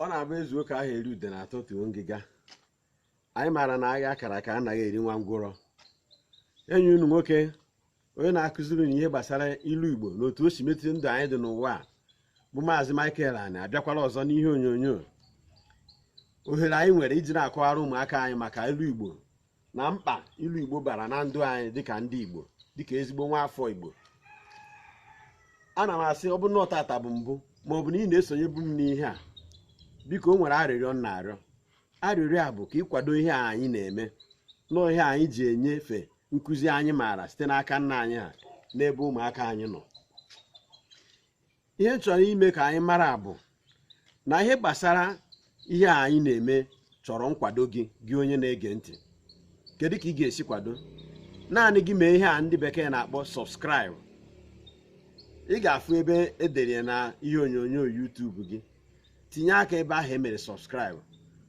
ọ na-abụ ezuo ka aha eri udene atọtuo ngịga anyị maara na agha akara aka anaghị eri nwa ngwụrọ enyi unu nwoke onye na-akụziri unu ihe gbasara ilu igbo na otu o si metụta ndụ anyị dị n'ụwa a bụ maazị Michael Ani abịakwala ọzọ n'ihe onyonyo ohere anyị nwere iji na-akọwara ụmụaka anyị maka ilu igbo na mkpa ilu igbo bara na ndụ anyị dịka ndị igbo dịka ezigbo nwa afọ igbo ana m asị ọ bụ na ọ tata bụ mbụ ma ọ bụ na ị na-esonyebu m n'ihe a biko o nwere arịrịọ m na-arịọ arịrịọ a bụ ka ị kwado ihe a anyị na-eme na ihe anyị ji enyefe nkụzi anyị maara site n'aka nna anyị ha n'ebe ụmụaka anyị nọ ihe m chọrọ ime ka anyị mara bụ na ihe gbasara ihe a anyị na-eme chọrọ nkwado gị gị onye na-ege ntị kedu ka ị ga-esi kwado naanị gị mee ihe a ndị bekee na-akpọ subscribe ị ga-afụ ebe edere ya na ihe onyonyo YouTube gị tinye aka ebe ahụ emere subscribe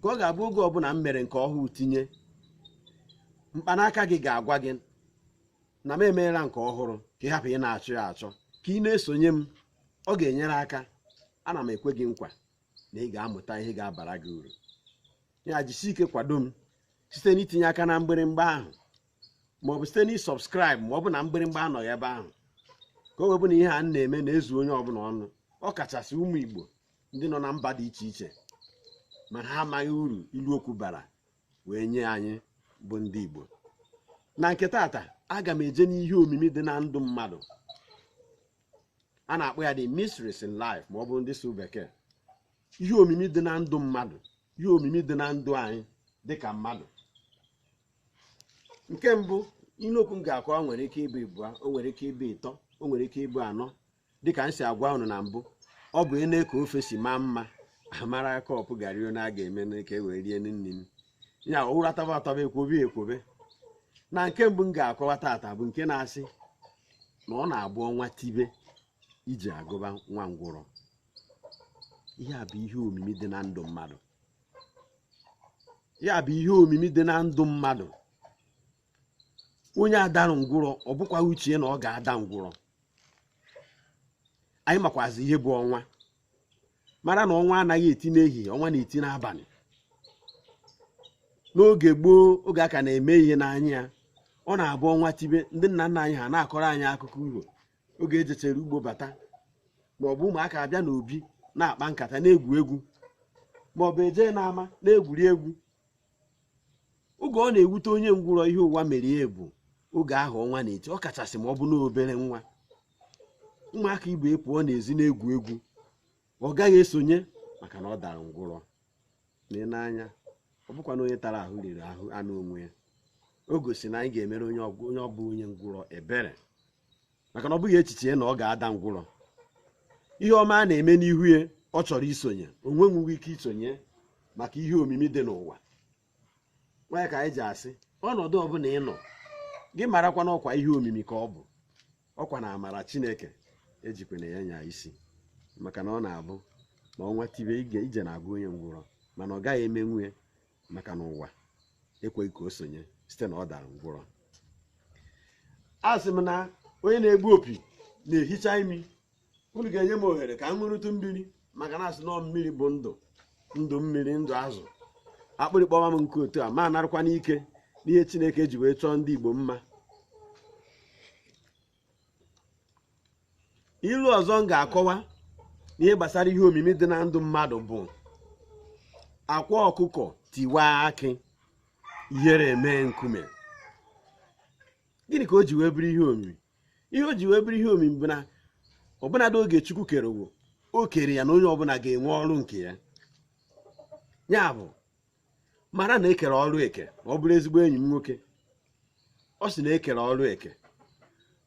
ka ọ ga-abụ oge ọbụla m mere nke ọhụrụ tinye mkpanaka gị ga-agwa gị na m emeela nke ọhụrụ ka ị hapụ ị na-achọ ya achọ ka ị na-esonye m ọ ga-enyere aka ana m ekwe gị nkwa na ị ga-amụta ihe ga-abara gị uru ya jisi ike kwado m site n'itinye aka na mgbịrịmgba ahụ maọbụ site na ịsubscribe ma ọ bụ na mgbịrịmgba anọghị ebe ahụ ka o wee bụ na ihe a m na-eme na-ezu onye ọbụla ọnụ ọ kachasị ụmụ Igbo ndị nọ na mba dị iche iche ma ha amaghị uru ilu okwu bara wee nye anyị bụ ndị Igbo na nke tata aga m eje n'ihe omimi dị na ndụ mmadụ a na-akpọ ya the mysteries in life ma ọ bụ ndị sụ bekee ihe omimi dị na ndụ mmadụ ihe omimi dị na ndụ anyị dị ka mmadụ nke mbụ ilu okwu m ga-akọwa nwere ike ịbụ ịbụa o nwere ike ịbụ ịtọ o nwere ike ịbụ anọ dịka m si agwa unu na mbụ ọ bụ ene ka ofe si maa mma amara cup garị one a ga-eme ka e wee rie nni ya ụra tọba atọba ekwobe ekwobe na nke mbụ m ga-akọwa tata bụ nke na-asị na ọ na-abụ ọnwa tibe ije agụba nwa ngwụrọ ihe a bụ ihe omimi dị na ndụ mmadụ ya bụ ihe omimi dị na ndụ mmadụ onye a darụ ngwụrọ ọ bụkwa uche ya na ọ ga-ada ngwụrọ anyị makwazi ihe bụ ọnwa mara na ọnwa anaghị eti n'ehihie ọnwa na-eti n'abalị n'oge gboo oge a ka na-eme ihe n'anya ya ọ na-abụ ọnwa tibe ndị nna nna anyị ha na-akọrọ anyị akụkọ uro oge ejechere ugbo bata ma ọ bụ ụmụaka abịa n'obi na-akpa nkata na-egwu egwu ma ọ bụ eje n'ama na-egwuri egwu oge ọ na-ewute onye ngwụrọ ihe ụwa mere ya bụ oge ahụ ọnwa na-eti ọ kachasị ma ọ bụ n'obere nwa ụmụaka ibe pụọ n'ezi na-egwu egwu ọ gaghị esonye maka na ọ dara ngwụrọ lee n'anya ọ bụkwa na onye tara ahụ riri anụ onwe ya o gosi na anyị ga-emere onye ọ bụ onye ngwụrọ ebere maka na ọ bụghị echiche ya na ọ ga-ada ngwụrọ ihe ọma a na-eme n'ihu ya ọ chọrọ isonye o nwenwughị ike isonye maka ihe omimi dị n'ụwa nwa ka anyị ji asị ọnọdụ ọbụla ị nọ gị marakwa na ọkwa ihe omimi ka ọ bụ ọkwa na amara chineke ejikwana ya nya isi maka na ọ na-abụ ma ọnwa tibe ije na-agụ onye ngwụrọ mana ọ gaghị emenwu ya maka na ụwa ekweghị ka o sonye site na ọ dara ngwụrọ a sị m na onye na-egbu opi na-ehicha imi unu ga-enye m ohere ka m ṅụrụtụ mmiri maka na asị na mmiri bụ ndụ ndụ mmiri ndụ azụ akpịrị kpọwa m nkụ otu a ma narakwa n'ike n'ihe chineke ji wee chọọ ndị igbo mma ilu ọzọ m ga-akọwa n'ihe gbasara ihe omimi dị na ndụ mmadụ bụ akwa ọkụkọ tiwa akị ihere eme nkume gịnị ka o ji wee bụrụ ihe omimi ihe o ji wee bụrụ ihe omimi bụ na ọbụnadị oge chukwu kere ụwa o kere ya na onye ọbụla ga-enwe ọrụ nke ya ya bụ mara na ekere ọrụ eke ma ọ bụrụ ezigbo enyi m nwoke ọ sị na ekere ọrụ eke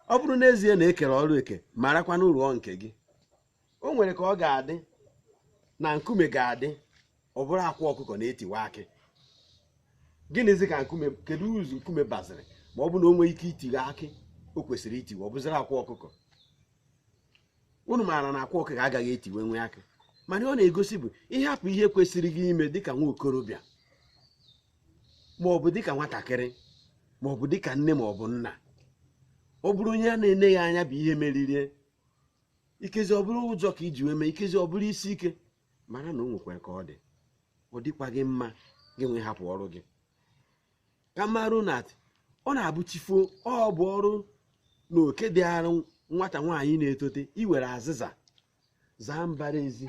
ọ bụrụ n'ezie na ekere ọrụ eke marakwa na ị rụọ nke gị o nwere ka ọ ga-adị na nkume ga-adị ọ bụrụ akwa ọkụkọ na-etiwa akị gịnịzi ka nkume keduzi uru nkume baziri ma ọ bụ na o nwee ike itiwe akị o kwesịrị itiwe ọ bụziri akwa ọkụkọ unu maara na akwa ọkụkọ agaghị etiwenwu akị mana ihe ọ na-egosi bụ ịhapụ ihe kwesịrị gị ime dịka nwa okorobịa ma ọ bụ dịka nwatakịrị ma ọ bụ dịka nne ma ọ bụ nna ọ bụrụ onye a na-ene ya anya bụ ihe meririe ikezi ọ bụrụ ụjọ ka iji wee mee ikezi ọ bụrụ isi ike mara na o nwekwara ka ọ dị ọ dịkwaghị mma gị wee hapụ ọrụ gị ka a marụ na ọ na-abụ chi foo ọ bụ ọrụ na oke dịịrị nwata nwaanyị na-etote iwere azịza zaa mbara ezi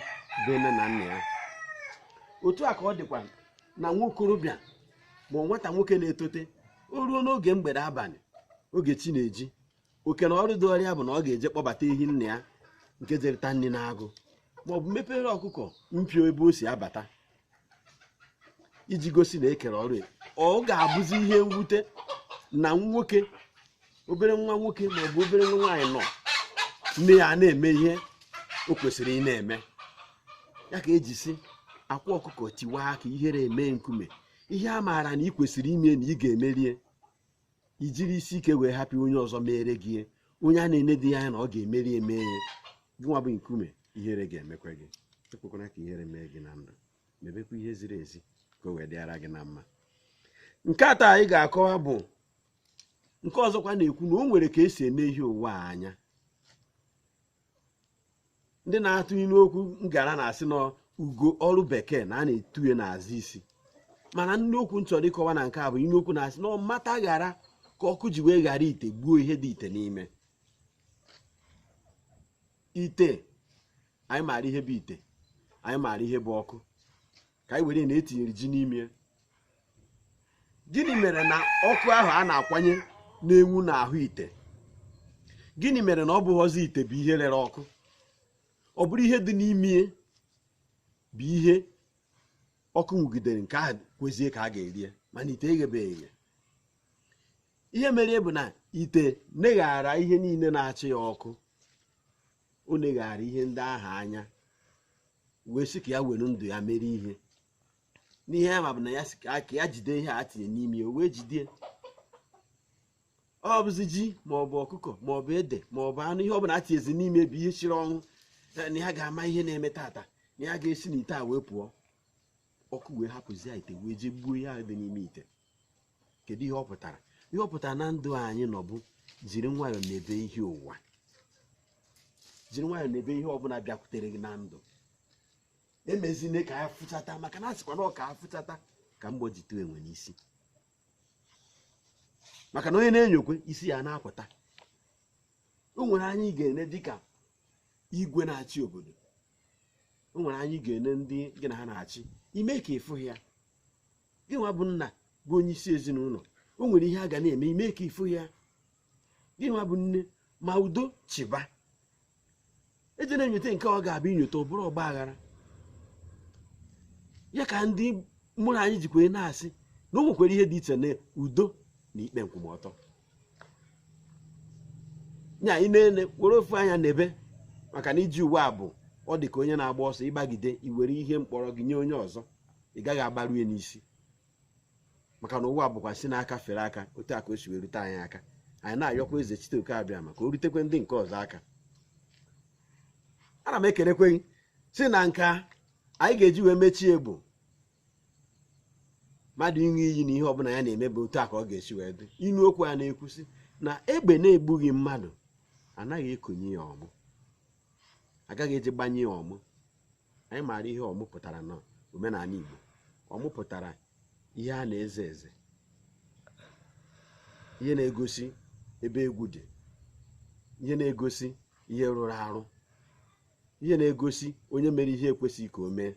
be nne na nna ya otu a ka ọ dịkwa na nwa okorobịa ma ọ bụ nwata nwoke na-etote o ruo n'oge mgbede abalị oge chi na-eji oke na ọrụ dịịrị ya bụ na ọ ga-eje kpọbata ehi nna ya nke jere ịta nri n'agụ maọbụ mepere ọkụkọ mpio ebe o si abata iji gosi na e kere ọrụ ya. ọ ga-abụzi ihe mwute na nwoke obere nwa nwoke maọbụ obere nwa nwaanyị nọ nne ya na-eme ihe o kwesịrị ịna-eme ya ka e ji sị akwa ọkụkọ tiwaa akị ihere emee nkume ihe a maara na ị kwesịrị ime na ị ga-emerie i jiri isi ike wee hapụ onye ọzọ mere gị onye a na-enedịghị anya na ọ ga-emeri emee ya gị nwa bụ nkume ihere ga-emekwa gị ekwekwana ka ihere mee gị na ndụ mebekwa ihe ziri ezi ka o wee dịara gị na mma nke atọ anyị ga-akọwa bụ nke ọzọkwa na-ekwu na o nwere ka e si ene ihe ụwa anya ndị na-atụ ilu okwu ngara na-asị na ugo ọrụ bekee na a na-etu ya n'azụ isi mana ilu okwu m chọrọ ịkọwa na nke a bụ ilu okwu na-asị na mata ghara ka ọkụ ji wee ghara ite gbuo ihe dị ite n'ime ite anyị maara ihe bụ ite anyị maara ihe bụ ọkụ ka anyị were na e tinyere ji n'ime gịnị mere na ọkụ ahụ a na-akwanye na-enwu n'ahụ ite gịnị mere na ọ bụghọzi ite bụ ihe rere ọkụ ọ bụrụ ihe dị n'ime bụ ihe ọkụ nwugidere nke ahụ kwezie ka a ga-erie mana ite eghebeghị eghe ihe mere bụ na ite neghaara ihe niile na-achị ya ọkụ o neghaara ihe ndị ahụ anya wee sị ka ya were ndụ ya mere ihe n'ihe ya ma bụ na ya sị ka ya jide ihe a tinye n'ime ya o wee jide ọ bụzi ji ma ọ bụ ọkụkọ ma ọ bụ ede ma ọ bụ anụ ihe ọ bụla e tinyezi n'ime bụ ihe siri ọnwụ eh, na ya ga-ama ihe na-eme tata na ya ga-esi n'ite a wee pụọ ọkụ wee hapụzie ite wee jee gbuo ihe ahụ dị n'ime ite kedu ihe ọ pụtara ihe ọ pụtara na ndụ anyị nọ bụ jiri nwayọọ nebe ihe ụwa jiri nwayọọ nebe ihe ọbụla bịakwutere gị na ndụ emezine ka ya fụchata maka na a sịkwa na ọ ka afụchata ka mgbọ ji tụọ enwe n'isi maka na onye na-enyokwe isi ya na-apụta o nwere anya ị ga-ene dịka igwe na-achị obodo o nwere anya ị ga-ene ndị gị na ha na-achị i mee ka ị fụghị ya gị nwa bụ nna bụ onye isi ezinụlọ o nwere ihe a ga na-eme i mee ka ị fụghị ya gị nwa bụ nne ma udo chịba ejena enyote nke ọ ga-abụ i nyote ọ bụrụ ọgba aghara ya ka ndị mụrụ anyị jikwa na-asị na o nwekwara ihe dị iche na udo na ikpe nkwụmọtọ ya ị na-ene were ofu anya nebe maka na ije ụwa bụ ọ dị ka onye na-agba ọsọ ị gbagide i were ihe mkpọrọ gị nye onye ọzọ ị gaghị agbaru ya n'isi maka na ụwa bụkwa si n'aka fere aka otu a ka o si wee rute anyị aka anyị na-ayọkwa eze chiteoke abịama ka o rutekwe ndị nke ọzọ aka ana m ekelekwe gị sị na nke anyị ga-eji wee mechie bụ mmadụ ịṅụ iyi na ihe ọbụla ya na-eme bụ otu a ka ọ ga-esi wee dị inu okwu a na-ekwu sị na egbe na-egbughị mmadụ anaghị ekonye ya ọmụ agaghị eji gbanye ya ọmụ anyị maara ihe ọmụ pụtara na omenala Igbo ọmụ pụtara ihe a na-eze eze ihe na-egosi ebe egwu dị ihe na-egosi ihe rụrụ arụ ihe na-egosi onye mere ihe ekwesịghị ka o mee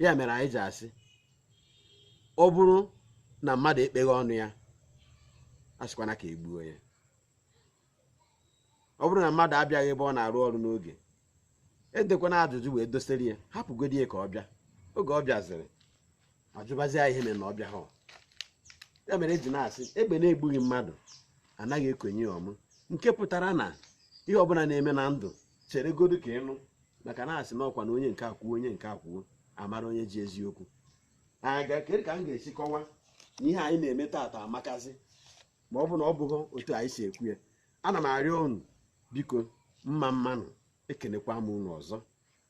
ya mere anyị ji asị ọ bụrụ na mmadụ ekpeghị ọnụ ya asịkwana ka egbuo ya ọ bụrụ na mmadụ abịaghị ebe ọ na-arụ ọrụ n'oge edekwana ajụjụ wee dosere ya hapụgodi ya ka ọ bịa oge ọ bịaziri ajụbazi ya ihe mere na ọ bịahụ ya mere eji na-asị egbe na-egbughị mmadụ anaghị ekonye ya ọmụ nke pụtara na ihe ọbụla na-eme na ndụ cheregodu ka ịnụ maka na asị na ọkwa na onye nke a kwuo onye nke a kwuo a mara onye ji eziokwu aga kedu ka m ga-esi kọwa na ihe anyị na-eme taata amakazi ma ọ bụ na ọ bụghị otu anyị si ekwu ya ana m arịọ unu biko mma mma nụ ekenekwa m unu ọzọ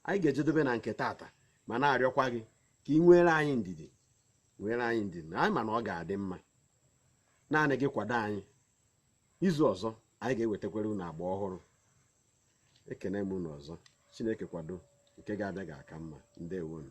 anyị ga-ejedobe na nke taata ma na-arịọkwa gị ka ị nwere anyị ndidi nwere anyị ndidi na anyị ma na ọ ga-adị mma naanị gị kwado anyị izu ọzọ anyị ga-ewetakwere unu agba ọhụrụ ekene m unu ọzọ chineke kwado nke ga-abịa ga-aka mma ndewonu